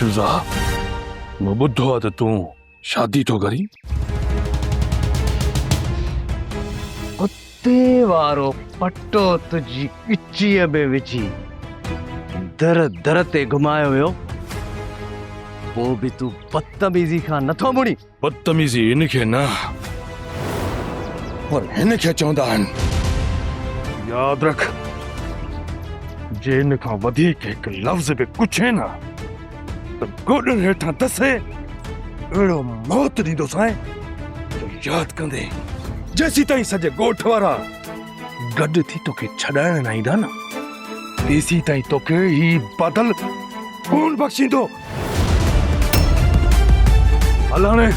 جزا مون ٻڌو آهي ته تون شادي ٿو ڪرين اتي وارو پٽو تنهنجي ڳچيء ۾ وجهي در در تي گهمايو ويو پوء به تون بدتميزي کان نٿو مڙين بدتميزي ان کي نه پر هن کي چوندا آهن. ياد رک جي ان کان وڌيڪ هڪ لفظ به پڇين ها ته گوڏن هيٺان دسي اهڙو موت ڏيندوسانء جو ياد ڪندين. جيسيتائين سڄي ڳوٺ وارا گڏ ٿي توکي ڇڏائڻ نه ايندا نه تيسيتائين توکي هي بادل ڪونه بخشيندو. هل هاڻي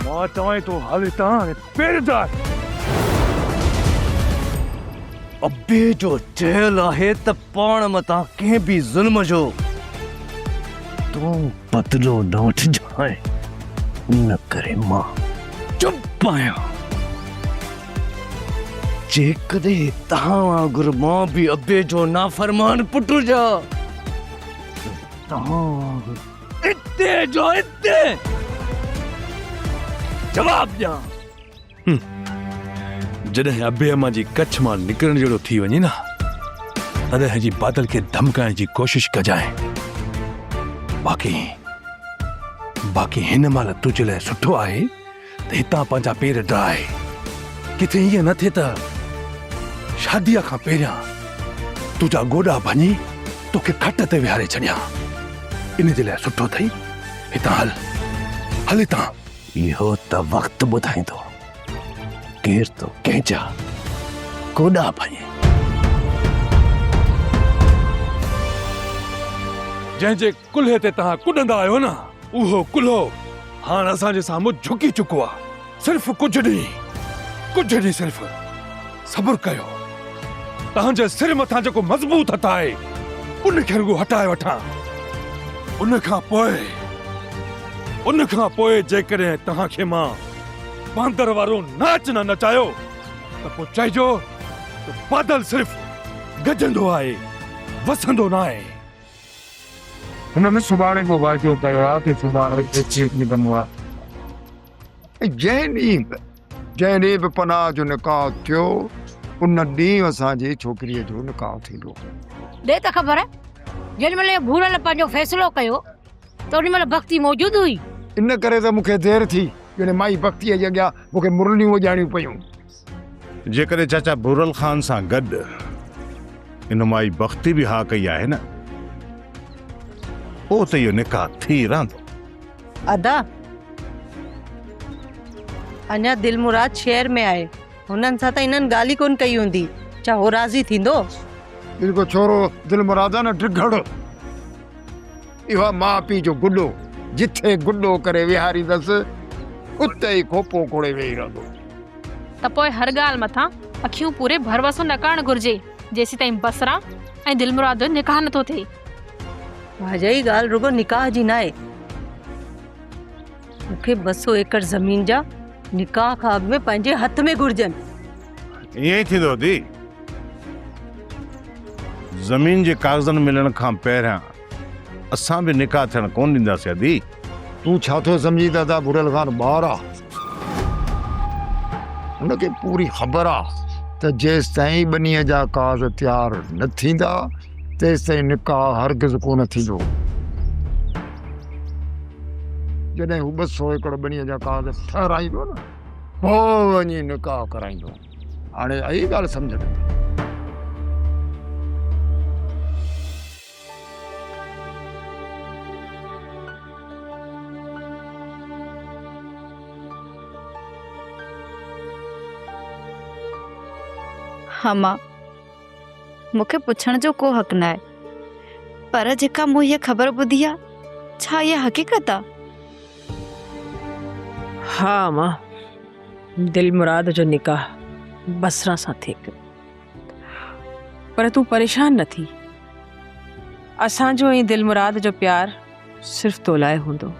مان چوانء ٿو هل هتان ۽ پيرزار. ابي جو چيل آهي ته پاڻ مٿان ڪنهن به ظلم جو تون بدلو نه وٺجانء ان ڪري مان چپ آهيان. جيڪڏهن توهان وانگر مان به ابي جو نافرمان پٽ هجان. توهان وانگر اتي جو اتي جواب ڏيان جڏهن ابي اما جي ڪڇ مان نڪرڻ جهڙو ٿي وڃي نه تڏهن جي بادل کي ڌمڪائڻ جي ڪوشش ڪجانء باقي باقي هن مهل تنهنجي لاء سٺو آهي ته هتان پنهنجا پير ڊاهي ڪٿي ائين نه ٿئي ته شاديء کان پهريان تنهنجا گوڏا ڀڃي توکي کٽ تي ويهاري ڇڏيان. ان جي لاء سٺو اٿئي هتان هل. هل هتان. اهو ته وقت ٻڌائيندو ڪير ٿو ڪنهن جا گوڏا ڀڃي. جنهن جي ڪلهي تي توهان ڪڏندا آهيو نه، اهو ڪلهو هاڻ اسان جي سامهون جهڪي چڪو آهي. صرف ڪجهه ڏينهن، ڪجهه ڏينهن صرف صبر ڪيو. توهان جي سر مٿان جيڪو مضبوط هٿ آهي، ان کي رڳو هٽائي وٺان. ان کان پوء، ان کان پوء جيڪڏهن توهان کي مان باندر وارو ناچ نه نچايو، ته پوء چئجو ته بادل صرف گجندو آهي، وسندو ناهي. هن ۾ سڀاڻي به واعدو ڪيو آهي ته سڀاڻي ايڇ اي ڪندو آهي. ۽ جنهن ڏينهن به جنهن ڏينهن به پناهه جو نڪاح ٿيو ان ڏينهن اسان جي ڇوڪريء جو نڪاح ٿيندو هو. ڏي ته خبر جنهن مهل اهي ڀورل پنهنجو فيصلو ڪيو ته ان مهل بختي موجود هئي؟ ان ڪري ته مون کي دير ٿي جڏهن مائي بختيء جي اڳيان مون کي مرليون وڄائڻيون پيون. جيڪڏهن چاچا ڀورل خان سان گڏ ان مائي بختي به ها ڪئي آهي نه پوء ته اهو نڪاح ٿي رهندو. ادا اڃا دلمراد شهر ۾ آهي هنن سان ته انهن ڳالهه ئي ڪونه ڪئي هوندي ڇا هو راضي ٿيندو. هي ڪو ڇورو دلمراد آهي نه ڊگهڙ. اهو آ ماء پيء جو گڏو، جٿي گڏو ڪري ويهاريندس، اتي ئي کوپو کوڙي ويهي رهندو. ته پوء هر ڳالهه مٿان اکيون پوري ڀروسو نه ڪرڻ گهرجي، جيسيتائين بصره ۽ دلمراد جو نڪاح نٿو ٿئي. واجهه هي ڳالهه رڳو نڪاح جي ناهي. مون کي ٻه سؤ ايڪڙ زمين جا نڪاح کان اڳ ۾ پنهنجي هٿ ۾ گهرجن. ائين ئي ٿيندو ڌيء. زمين جي ڪاغذن ملڻ کان پهريان اسان به نڪاح ٿيڻ ڪون ڏينداسين ادي. تون ڇا ٿو سمجهين ته ادا ڀوريل خان ٻار آ. هن کي پوري خبر آ ته جيستائين ٻنيء جا ڪاز تيار نه ٿيندا تيستائين نڪاح هرگز ڪونه ٿيندو. جڏهن هو ٻه سؤ ايڪڙ ٻنيء جا ڪاز ٺهرائيندو نه پوء وڃي نڪاح ڪرائيندو. هاڻي آئي ڳالهه سمجهه ۾. هما، مون کي پڇڻ جو ڪو حق ناهي پر جيڪا مون هيء خبر ٻڌي آ ڇا هيء حقيقت آ؟ ها هما، دلمراد جو نڪاح بصره سان ٿي پيو. پر تون پريشان نه ٿي اسان جو ۽ دل مراد جو پيار صرف تو لاء هوندو.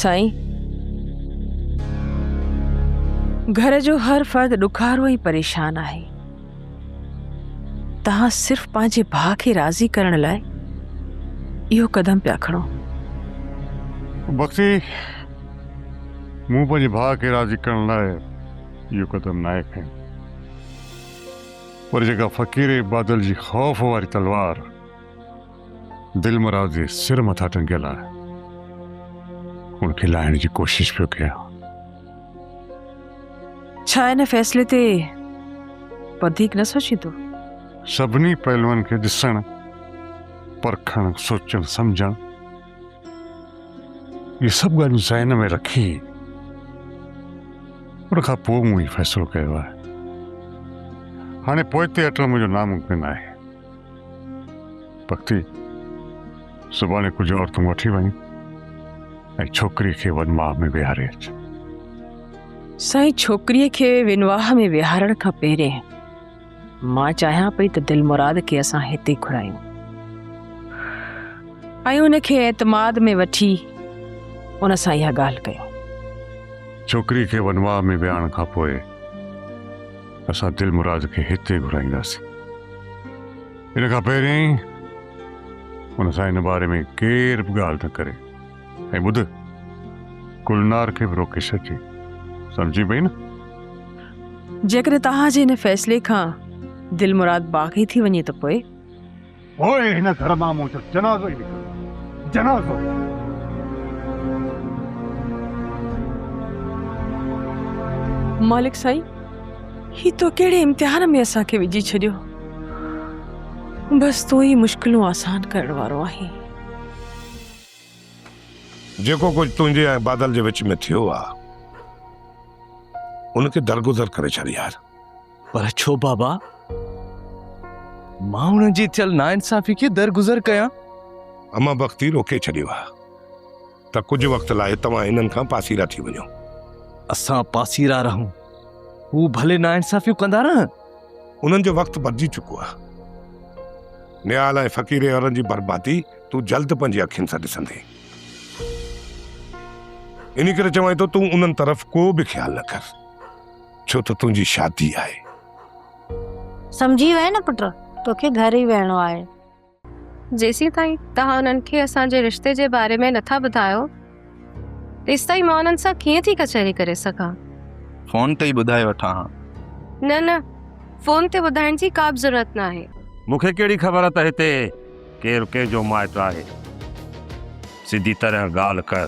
سائين گهر جو هر فرد ڏکارو ۽ پريشان آهي. توهان صرف پنهنجي ڀاء کي راضي ڪرڻ لاء اهو قدم پيا کڻو. بختي، مون پنهنجي ڀاء کي راضي ڪرڻ لاء اهو قدم ناهي کنيو. پر جيڪا فقير بادل جي خوف واري تلوار دلمراد جي سر مٿان ٽنگيل آهي، ان کي لاهڻ جي ڪوشش پيو ڪيان. ڇا ان فيصلي تي وڌيڪ نه سوچيندو؟ سڀني پهلوئن کي ڏسڻ، پرکڻ، سوچڻ، سمجهڻ، اهي سڀ ڳالهيون ذهن ۾ رکي ان کان پوء مون هي فيصلو ڪيو آهي. هاڻي پوئتي هٽڻ منهنجو ناممڪن آهي. بختي سڀاڻي ڪجهه عورتون وٺي وڃ ۽ ڇوڪري کي ونواهه ۾ ويهاري اچ سائين ڇوڪريء کي ونواهه ۾ ويهارڻ کان پهرين مان چاهيان پئي ته دل مراد کي اسان هتي گهرايون ۽ ان کي اعتماد ۾ وٺي ان سان اها ڳالهه ڪيون ڇوڪري کي ونواهه ۾ ويهارڻ کان پوء اسان دلمراد کي هتي گهرائينداسين. ان کان پهرين ان سان ان باري ۾ ڪير به ڳالهه نه ڪري ۽ ٻڌ گلنار کي به روڪي ڇڏجي. سمجهين پئي نه؟ جيڪڏهن توهان جي ان فيصلي کان دلمراد باغي ٿي وڃي ته پوء؟ پوء هن گهر مان مون جو جنازو ئي نڪرندو، جنازو! مالڪ سائين، هي تو ڪهڙي امتحان ۾ اسان کي وجهي ڇڏيو؟ بس تون ئي مشڪلون آسان ڪرڻ وارو آهين. جيڪو ڪجهه تنهنجي ۽ بادل جي وچ ۾ ٿيو آ، ان کي درگذر ڪري ڇڏ يار. پر ڇو بابا مان انهن جي ٿيل ناانصافي کي درگذر ڪيان اما بختي روڪي ڇڏيو آ ته ڪجهه وقت لاء توهان انهن کان پاسيرا ٿي وڃو اسان پاسيرا رهون هو ڀلي ناانصافيون ڪندا رهن انهن جو وقت بدجي چڪو آ نيال ۽ فقير عورن جي بربادي تون جلد پنهنجي اکين سان ڏسندي انهي ڪري چوان ٿو تون انهن طرف ڪو به خيال نه ڪر ڇو ته تنهنجي شادي آهي. سمجهي ويئي نه پٽ، توکي گهر ئي ويهڻو آهي. جيسيتائين توهان انهن کي اسان جي رشتي جي باري ۾ نٿا ٻڌايو، تيستائين مان انهن سان ڪيئن ٿي ڪچهري ڪري سگهان؟ فون تي ئي ٻڌائي وٺان ها. نه نه، فون تي ٻڌائڻ جي ڪا به ضرورت ناهي. مون کي ڪهڙي خبر ته هتي ڪير ڪنهن جو مائٽ آهي. سڌي طرح ڳالهه ڪر.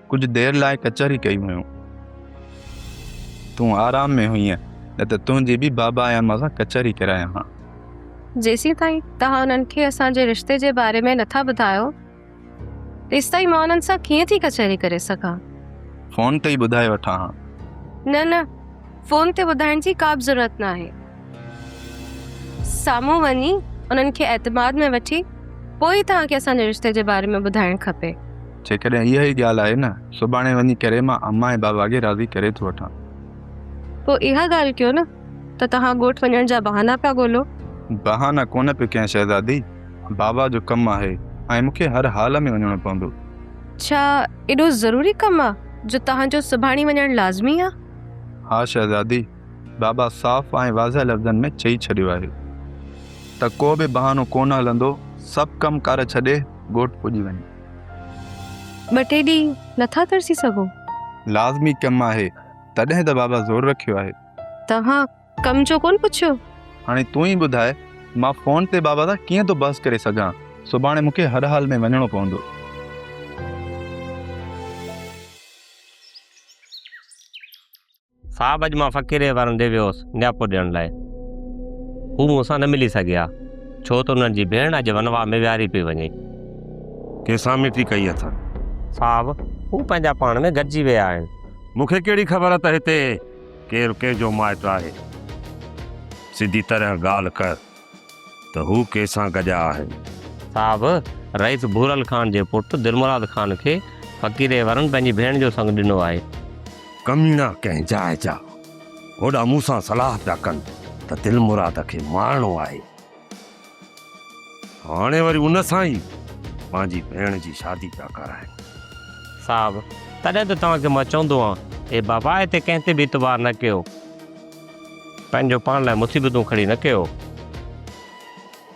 ڪجهه دير لاء ڪچهري ڪئي هيون. تون آرام ۾ هئين نه ته تنهنجي به بابا يا اما سان ڪچهري ڪرايان ها. جيسيتائين توهان انهن کي اسان جي رشتي جي باري ۾ نٿا ٻڌايو، تيستائين مان انهن سان ڪيئن ٿي ڪچهري ڪري سگهان؟ فون تي ئي ٻڌائي وٺان ها. نه نه، فون تي ٻڌائڻ جي ڪابه ضرورت ناهي. سامهون وڃي انهن کي اعتماد ۾ وٺي پوء ئي توهان کي اسان جي رشتي جي باري ۾ ٻڌائڻ کپي. جيڪڏهن اها ئي ڳالهه آهي نه، سڀاڻي وڃي ڪري مان امان ۽ بابا کي راضي ڪري ٿو وٺان. پوء اها ڳالهه ڪيو نه ته توهان ڳوٺ وڃڻ جا بهانا پيا ڳولو. بهانا ڪونه پيو ڪيان شهزادي، بابا جو ڪم آهي ۽ مون کي هر حال ۾ وڃڻو پوندو. ڇا ايڏو ضروري ڪم آ جو توهان جو سڀاڻي وڃڻ لازمي آ؟ ها شهزادي، بابا صاف ۽ واضح لفظن ۾ چئي ڇڏيو آهي ته ڪو به بهانو ڪونه هلندو، سڀ ڪم ڪار ڇڏي ڳوٺ پڄي وڃ. ٻه ٽي ڏينهن نٿا ترسي سگهو؟ لازمي ڪم آهي، تڏهن ته بابا زور رکيو آهي. توهان ڪم جو ڪونه پڇيو؟ هاڻي تون ئي ٻڌاء، مان فون تي بابا سان ڪيئن ٿو بحث ڪري سگهان؟ سڀاڻي مون کي هر حال ۾ وڃڻو پوندو. صاحب اڄ مان فقيري وارن ڏي ويو هوس نياپو ڏيڻ لاء. هو مون سان نه ملي سگهيا، ڇو ته انهن جي ڀيڻ اڄ ونواهه ۾ ويهاري پئي وڃي. ڪنهن سان مٽي ڪئي اٿن؟ صاحب، هو پنهنجا پاڻ ۾ گڏجي ويا آهن. مون کي ڪهڙي خبر ته هتي ڪير ڪنهن جو مائٽ آهي. سڌي طرح ڳالهه ڪر. ته هو ڪنهن سان گڏيا آهن. صاحب رئيس ڀورل خان جي پٽ دلمراد خان کي فقيري ورن پنهنجي ڀيڻ جو سڱ ڏنو آهي. ڪميڻا ڪنهن جاء جا هوڏا مون سان صلاح پيا ڪن ته دلمراد کي مارڻو آهي. هاڻي وري ان سان ئي پنهنجي ڀيڻ جي شادي پيا ڪرائين. صاحب تڏهن ته توهان کي مان چوندو هان اي بابا هتي ڪنهن تي به اعتبار نه ڪيو. پنهنجو پاڻ لاء مصيبتون کڙي نه ڪيو.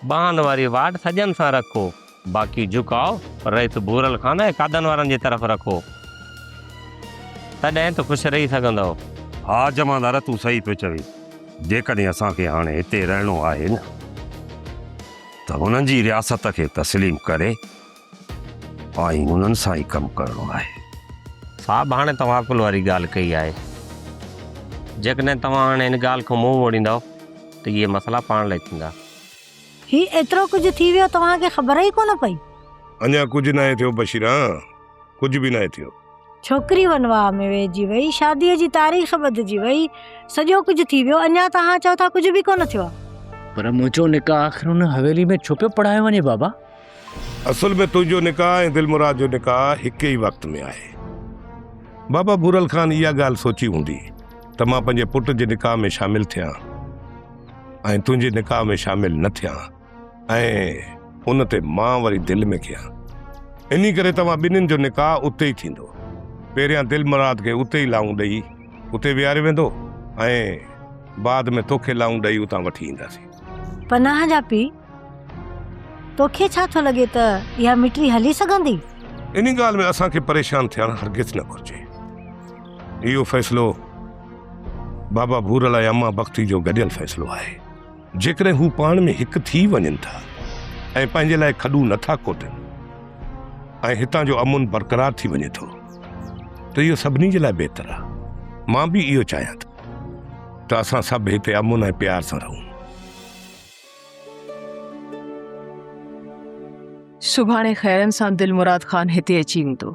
ٻانهن واري واٽ سڄن سان رکو. باقي جهڪاء رئيس ڀورل خان ۽ قادن وارن جي طرف رکو. تڏهن ته خوش رهي سگهندؤ. ها جمعدار تون صحيح پيو چوين. جيڪڏهن اسان کي هاڻي هتي رهڻو آهي نه ته هنن جي رياست کي تسليم ڪري. آئي انهن سان ئي ڪم ڪرڻو آهي. صاحب هاڻي توهان عقل واري ڳالهه ڪئي آهي. جيڪڏهن توهان هاڻي ان ڳالهه کان منهن موڙيندؤ ته اهي مسئلا پاڻ لئي ٿيندا. هي ايترو ڪجهه ٿي ويو توهان کي خبر ئي ڪونه پئي. اڃا ڪجهه ناهي ٿيو بشيران ڪجهه به ناهي ٿيو. ڇوڪري ونواهه ۾ ويهجي وئي شادي جي تاريخ ٻڌجي وئي سڄو ڪجهه ٿي ويو اڃا توهان چئو ٿا ڪجهه به ڪونه ٿيو آهي. پر منهنجو نڪاح آخر ان حويلي ۾ ڇو پيو پڙهايو وڃي بابا. اصل ۾ تنهنجو نڪاح ۽ دلمراد جو نڪاح هڪ ئي وقت ۾ آهي. بابا ڀورل خان اها ڳالهه سوچي هوندي ته مان پنهنجي پٽ جي نڪاح ۾ شامل ٿيان ۽ تنهنجي نڪاح ۾ شامل نه ٿيان ۽ ان تي مان وري دل ۾ ڪيان. انهي ڪري توهان ٻنهين جو نڪاح اتي ئي ٿيندو. پهريان دلمراد کي اتي ئي لانئون ڏئي اتي ويهاريو ويندو ۽ بعد ۾ توکي لانئون ڏئي اتان وٺي اينداسين. پناهه جا پيء توکي ڇا ٿو لڳي ته اها مٽري هلي سگهندي؟ ان ڳالهه ۾ اسان کي پريشان ٿيڻ هرگز نه گهرجي. اهو فيصلو بابا ڀورل ۽ اما بختي جو گڏيل فيصلو آهي. جيڪڏهن هو پاڻ ۾ هڪ ٿي وڃن ٿا ۽ پنهنجي لاء کڏو نه ٿا کوٽن ۽ هتان جو امن برقرار ٿي وڃي ٿو ته اهو سڀني جي لاء بهتر آهي. مان به اهو چاهيان ٿو ته اسان سڀ هتي امن ۽ پيار سان رهون. سڀاڻي خيرن سان دلمراد خان هتي اچي ويندو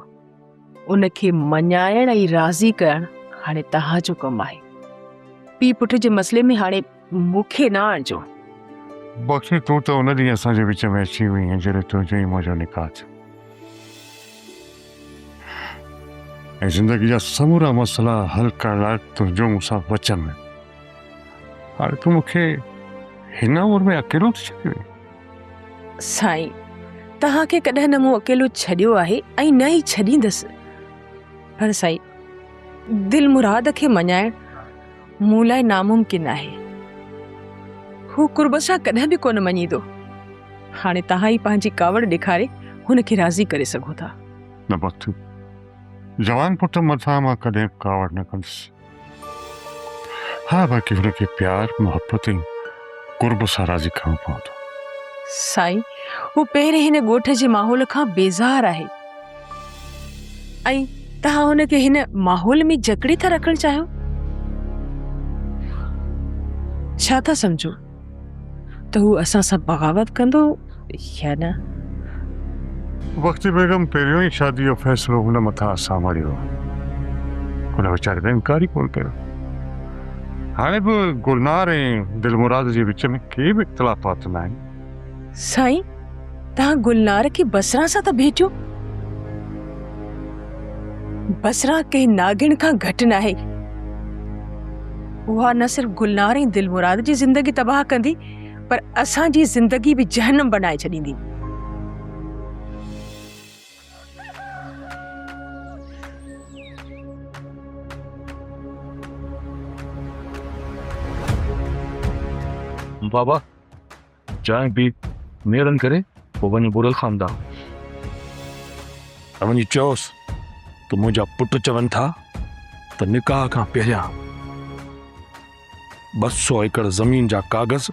ان کي مڃائڻ ۽ راضي ڪرڻ هاڻي توهان جو ڪم آهي پي پٽ جي مسئلي ۾ هاڻي مون کي نه آڻجو بخشي تون ته ان ڏينهن اسان جي وچ ۾ اچي وئي هين جڏهن تنهنجو ۽ منهنجو نڪاح ٿيو ۽ زندگي جا سمورا مسئلا حل ڪرڻ لاء تنهنجو مون سان وچن هاڻي تون مون کي هن عمر ۾ اڪيلو ٿي ڇڏيو سائين توهان کي ڪڏهن نه مون اڪيلو ڇڏيو آهي ۽ نه ئي ڇڏيندس پر سائين دل مراد کي مڃائڻ مون لاء ناممڪن آهي هو قرب سان ڪڏهن به ڪونه مڃيندو هاڻي توهان ئي پنهنجي ڪاوڙ ڏيکاري هن کي راضي ڪري سگهو ٿا نه بختو جوان پٽ مٿان مان ڪڏهن ڪاوڙ نه ڪندس ها باقي هن کي پيار محبت ۽ قرب سان راضي ڪرڻو پوندو. سائين هو پهرين هن ڳوٺ جي ماحول کان بيزار آهي ۽ توهان هن کي هن ماحول ۾ جڪڙي ٿا رکڻ چاهيو ڇا ٿا سمجهو. ته هو اسان سان بغاوت ڪندو يا نه؟ بختي بيگم پهريون ئي شاديء جو فيصلو هن مٿان اسان مڙهيو هو. هن ويچاري ته انڪار ئي ڪونه ڪيو. هاڻي به گلنار ۽ دلمراد جي وچ ۾ ڪي به اختلافات ناهن. سائين توهان گلنار کي بصرا سان ٿا ڀيٽيو؟ بصرا ڪنهن ناگڻ کان گهٽ ناهي. اها نه صرف گلنار ۽ دلمراد جي زندگي تباهه ڪندي پر اسان جي زندگي به جهنم بنائي ڇڏيندي. بابا چانهه پي نيرن ڪري پوء وڃ ٻرل خاندان ۽ وڃي چئوس ته منهنجا پٽ چون ٿا ته نڪاح کان پهريان ٻه سو ايڪڙ زمين جا ڪاغذ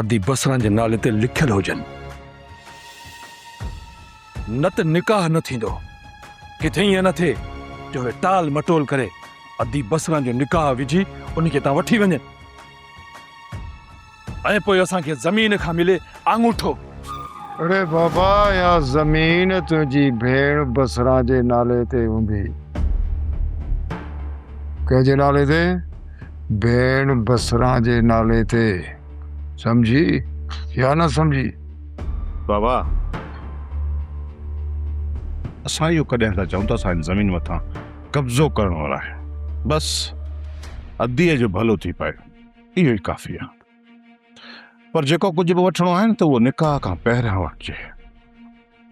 ادي بصران جي نالي تي لکيل هجن نه ته نڪاح نه ٿيندو ڪٿي ائين نه ٿئي جو هي ٽال مٽول ڪري ادي بصران جو نڪاح وجهي ان کي تان وٺي وڃن ۽ پوء اسان کي زمين کان ملي آڱوٺو. اڙي بابا اها زمين تنهنجي ڀيڻ بصره جي نالي تي هوندي. ڪنهن جي نالي تي؟ ڀيڻ بصره جي نالي تي. سمجهي يا نه سمجهي؟ بابا! اسان اهو ڪڏهن نه چئون ته اسان هن زمين مٿان قبضو ڪرڻ وارا آهيون. بس اديء جو ڀلو ٿي پئي. اهو ئي ڪافي آ. پر جيڪو ڪجهه به وٺڻو آهي نه ته اهو نڪاح کان پهريان وٺجي.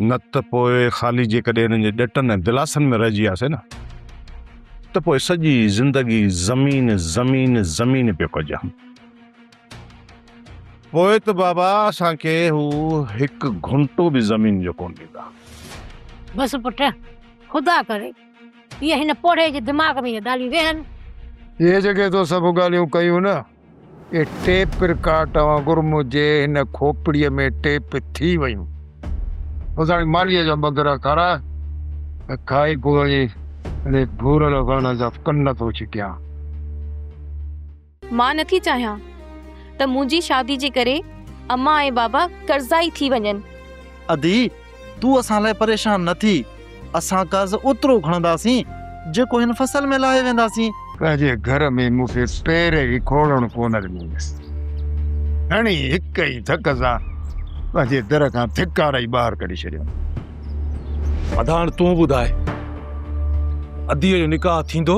نه ته پوء خالي جيڪڏهن هنن جي ڏٽن ۽ دلاسن ۾ رهجي وياسين نه ته پوء سڄي زندگي زمين زمين زمين پيو ڪجان. پوء ته بابا اسان کي هو هڪ گهنٽو به زمين جو ڪونه ڏيندا. بس پٽ خدا ڪري جيئن هن پوڙهي جي دماغ ۾ اهي ڳالهيون ويهن. اهي جيڪي تو سڀ ڳالهيون ڪيون نه، اهي ٽيپ رڪارڊ وانگر منهنجي هن کوپڙيء ۾ ٽيپ ٿي ويون. اوزاڻي مانيء جا مندرا کارائي ۽ کائي پوء وڃي انهي ڀورل وڻ جا ڪن ٿو ڇڪيان. مان نٿي چاهيان ته منهنجي شادي جي ڪري امان ۽ بابا قرضائي ٿي وڃن. ادي، تون اسان لاء پريشان نه ٿي. اسان قرض اوترو کڻنداسين، جيڪو هن فصل ۾ لاهي وينداسين. پنهنجي گهر ۾ مون کي پير ئي کوڙڻ ڪونه ڏنيس. ڌڻي هڪ ئي ڌڪ سان پنهنجي در کان ڌڪارئي ٻاهر ڪڍي ڇڏيم. ادا هاڻ تون ٻڌاء، اديء جو نڪاح ٿيندو؟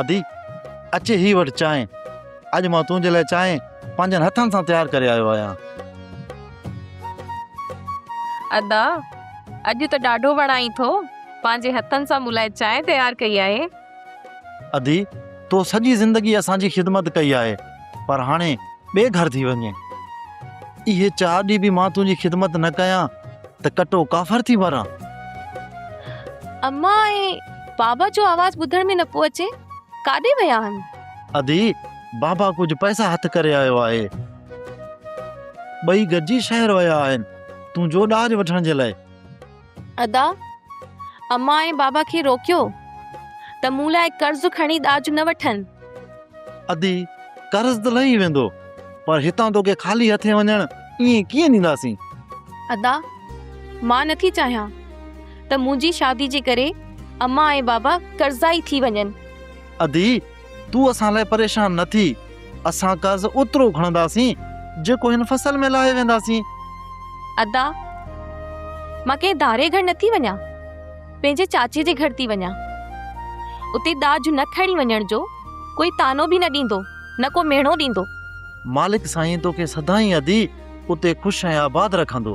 ادي، اچ هي وٺ چانهه. اڄ مان تنهنجي لاء چانهه پنهنجن هٿن سان تيار ڪري آيو آهيان. ادا، اڄ ته ڏاڍو وڻائين ٿو. پنهنجي هٿن سان مون لاء چانهه تيار ڪئي آهي. ادي تو سڄي زندگي اسان جي خدمت ڪئي آهي پر هاڻي ٻئي گهر ٿي وڃ. اهي چار ڏينهن به مان تنهنجي خدمت نه ڪيان ته ڪٽو ڪافر ٿي مران. امان ۽ بابا جو آواز ٻڌڻ ۾ نه پيو اچي، ڪاڏي ويا آهن؟ ادي بابا ڪجهه پئسا هٿ ڪري آيو آهي. ٻئي گڏجي شهر ويا آهن تنهنجو ڏاج وٺڻ جي لاء. ادا، امان ۽ بابا کي روڪيو ته مون لاء قرض کڻي ڏاج نه وٺن. ادي، قرض ته لهي ويندو، پر هتان توکي خالي هٿين وڃڻ ائين ڪيئن ڏينداسين؟ ادا، مان نه ٿي چاهيان ته منهنجي شادي جي ڪري امان ۽ بابا قرضائي ٿي وڃن. ادي، تون اسان لاء پريشان نه ٿي، اسان قرض اوترو کڻنداسين، جيڪو هن فصل ۾ لاهي وينداسين. ادا، مان ڪنهن ڌارئي گهر نه ٿي وڃان، پنهنجي چاچي جي گهر ٿي وڃان. اتي ڏاج نه کڻي وڃڻ جو ڪوئي طعنو به نه ڏيندو، نه ڪو ميڻو ڏيندو. مالڪ سائين توکي سدائين ادي اتي خوش ۽ آباد رکندو.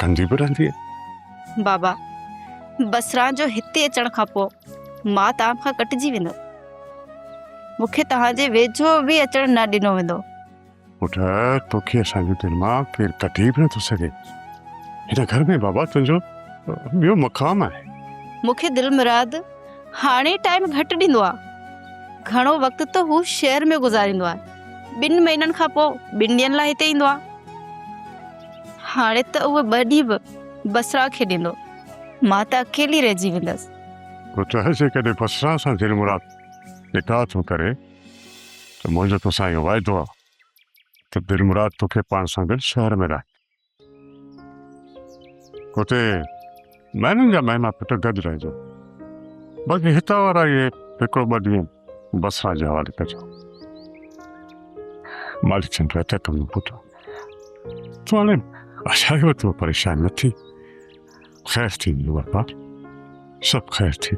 ڪندي به رهندي بابا بسران جو هتي اچڻ کان پوء مان توهان کان ڪٽجي ويندو مونکي توهان جي ويجهو به اچڻ نه ڏنو ويندو پٽ توکي اسان جي دل مان ڪير ڪٽي به نٿو سگهي هن گهر ۾ بابا تنهنجو ٻيو مقام آهي مونکي دل مراد هاڻي ٽائيم گهٽ ڏيندو آهي گهڻو وقت ته هو شهر ۾ گذاريندو آهي ٻن مهينن کان پوء ٻن ڏينهن لاء هتي ايندو آهي. هاڻي ته اهو ٻه ڏينهن به بصريٰ کي ڏيندو. مان ته اڪيلي رهجي ويندس. تو چاهين جيڪڏهن بصريٰ سان دل مراد نڪاح ٿو ڪرين ته منهنجو توسان اهو واعدو آهي ته دل مراد توکي پاڻ سان گڏ شهر ۾ رهائيندو. اتي مهينن جا مهينا پٽ گڏ رهجو باقي هتان وارا اهي هڪڙو ٻه ڏينهن بسرا جي حوالي ڪجو مالڪ چند رهتا ڪم پٽ تون هاڻي اشاري وقت ۾ پريشان نه ٿي خير ٿيندو بابا سڀ خير ٿي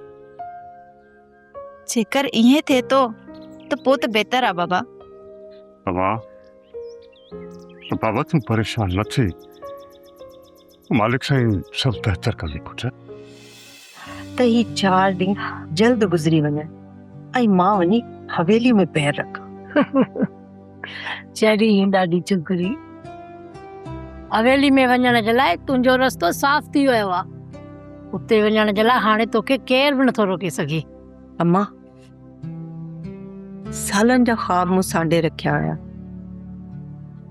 جيڪر ائين ٿئي ٿو ته پوء ته بهتر آ بابا. بابا بابا تون پريشان نه ٿي مالڪ سائين سڀ بهتر ڪندي پٽ. ته هي چار ڏينهن جلد گذري وڃن ۽ مان وڃي حويلي ۾ پير رکان. چري ڏاڍي چگري حويلي ۾ وڃڻ جي لاء تنهنجو رستو صاف ٿي ويو آهي اتي وڃڻ جي لاء هاڻي توکي ڪير به نٿو روڪي سگهي. امان سالن جا خواب مون سانڍي رکيا هيا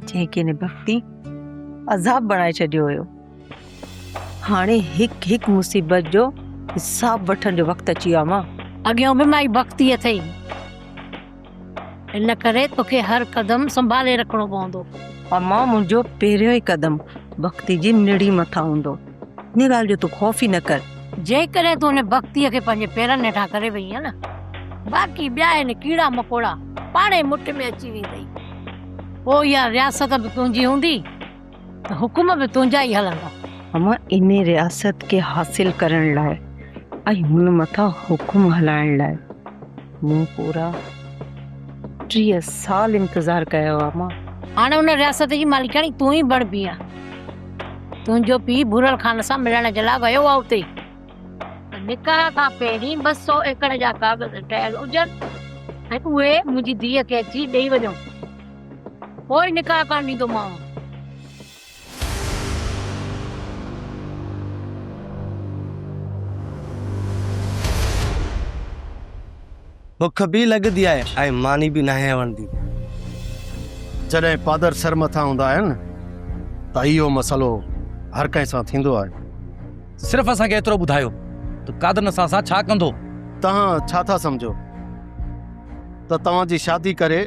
جنهن کي هن بختي عذاب بڻائي ڇڏيو هيو هاڻي هڪ هڪ مصيبت جو حساب وٺڻ جو وقت اچي ويو آهي امان. اڳيون به مائي بختي اٿئي. ان ڪري توکي هر قدم سنڀالي رکڻو پوندو. امان منهنجو پهريون ئي قدم ڀڳتي جي نڙي مٿان هوندو. ان ڳالهه جو تون خوف ئي نه ڪر. جيڪڏهن تون ان ڀڳتي کي پنهنجي پيرن هيٺان ڪري ويئين نه باقي ٻيا هن ڪيڙا مڪوڙا پاڻهي مٺ ۾ اچي ويندئي. پوء اها رياست به تنهنجي هوندي. ته حڪم به تنهنجا ئي هلندا. اوهان ان رياست کي حاصل ڪرڻ لاء ۽ هن مٿان حڪم هلائڻ لاء مون پورا ٽيهه سال انتظار ڪيو آهي ماء. هاڻي ان رياست جي مالڪياڻي تون ئي بڻبين ها. تنهنجو پيء ڀورل خان سان ملڻ جي لاء ويو آهي اتي ته نڪاح کان پهرين ٻه سؤ ايڪڙ جا ڪاغذ ٺهيل هجن ۽ اهي منهنجي ڌيء کي اچي ڏيئي وڃو. پوء نڪاح ڪرڻ ڏيندومانء. بک به لڳندي آهي ۽ ماني به ناهي وڻندي. جڏهن پادر سر مٿان هوندا آهن ته اهو مسئلو هر ڪنهن سان ٿيندو آهي. صرف اسان کي ايترو ٻڌايو ته قادر اسان سان ڇا ڪندو؟ توهان ڇا ٿا سمجهو ته توهان جي شادي ڪري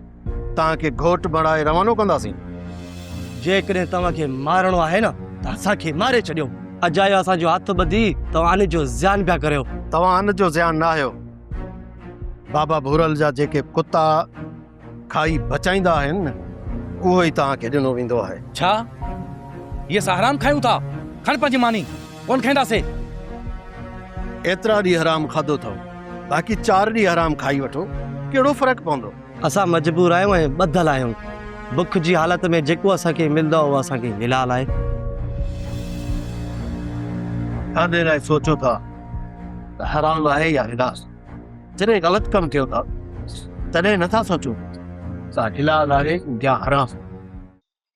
توهان کي گهوٽ بڻائي روانو ڪنداسين. جيڪڏهن توهان کي مارڻو آهي نه ته اسان کي ماري ڇڏيو. اجايو اسان جو هٿ ٻڌي توهان جو زيان پيا ڪريو. توهان جو زيان نه آهيو. بابا ڀورل جا جيڪي ڪتا کائي بچائيندا آهن نه اهو ئي توهان کي ڏنو ويندو آهي. ڇا هي اسان حرام کايون ٿا؟ کڻ پنهنجي ماني. ڪونه کائينداسين. ايترا ڏينهن حرام کاڌو اٿئو باقي چار ڏينهن حرام کائي وٺو ڪهڙو فرق پوندو. اسان مجبور آهيون ۽ ٻڌل آهيون. بک جي حالت ۾ جيڪو اسان کي ملندو آهي اهو اسان کي حلال آهي. ڇا دير آهي سوچو ٿا ته حرام آهي يا حلال؟ جڏهن غلط ڪم ڪيو ٿا تڏهن نٿا سوچو ته حلال آهي يا حرام؟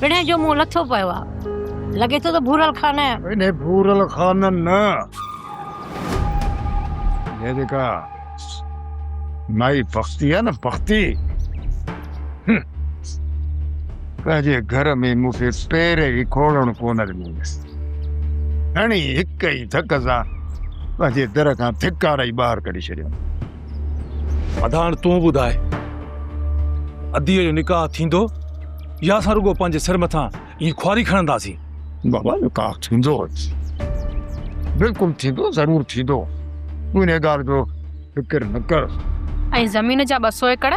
پڻهين جو منهن لٿو پيو آ. لڳي ٿو ته ڀورل خانه. انهي ڀورل خانه نه! جيڪا نائي پختي آ نه پختي پنهنجي گهر ۾ مون کي پير ئي کوڙڻ ڪونه ڏنو هڻي هڪ ئي ڌڪ سان پنهنجي در کان ٿڪاري ٻاهر ڪڍي ڇڏيم ادا هاڻ تون ٻڌاء اديء جو نڪاح ٿيندو يا اسان رڳو پنهنجي سر مٿان ائين خواري کڻنداسين. بابا جو ڪاڪ ٿيندو بلڪل ٿيندو ضرور ٿيندو تون انهي ڳالهه جو فڪر نه ڪر. ۽ زمين جا ٻه سو ايڪڙ.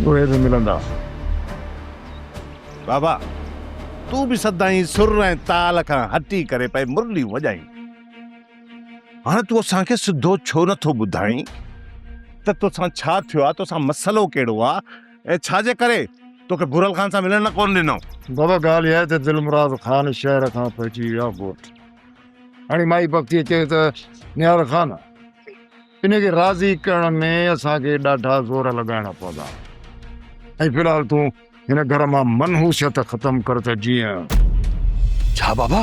اهي به ملندا. بابا تون به سدائين سر ۽ تال کان هٽي ڪري پئي مرليون وڄائين. هاڻ تون اسان کي سڌو ڇو نٿو ٻڌائين ته توسان ڇا ٿيو آ توسان مسئلو ڪهڙو آ. اي ڇا جي ڪري توکي ڀورل خان سان ملڻ نه ڪون ڏنو؟ بابا ڳالهه اها آهي ته دلمراد خان شهر کان پهچي ويو آهي ڳوٺ. هاڻي مائي بختيء چيو ته نهار خان، ان کي راضي ڪرڻ ۾ اسان کي ڏاڍا زور لڳائڻا پوندا ۽ في الحال تون هن گهر مان منحوسيت ختم ڪر ته جيئن. ڇا بابا؟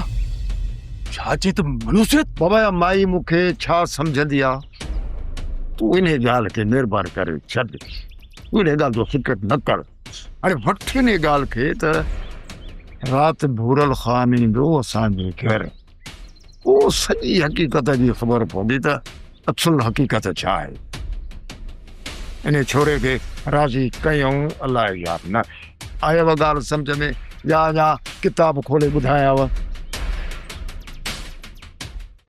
ڇا چئين ته منحوسيت؟ بابا اها مائي مون کي ڇا سمجهندي آهي؟ تون انهيء ڳالهه کي مهرباني ڪري ڇڏ. تون ان ڳالهه جو فڪر نه ڪر. هاڻي وٺ ان ڳالهه کي ته رات ڀورل خان ايندو اسان جي گهر. پوء سڄي حقيقت جي خبر پوندي ته اصل حقيقت ڇا آهي. انهي ڇوري کي راضي ڪيائون الاء يا نه. آيو ڳالهه سمجهه ۾ يا اڃا ڪتاب کولي ٻڌايانء؟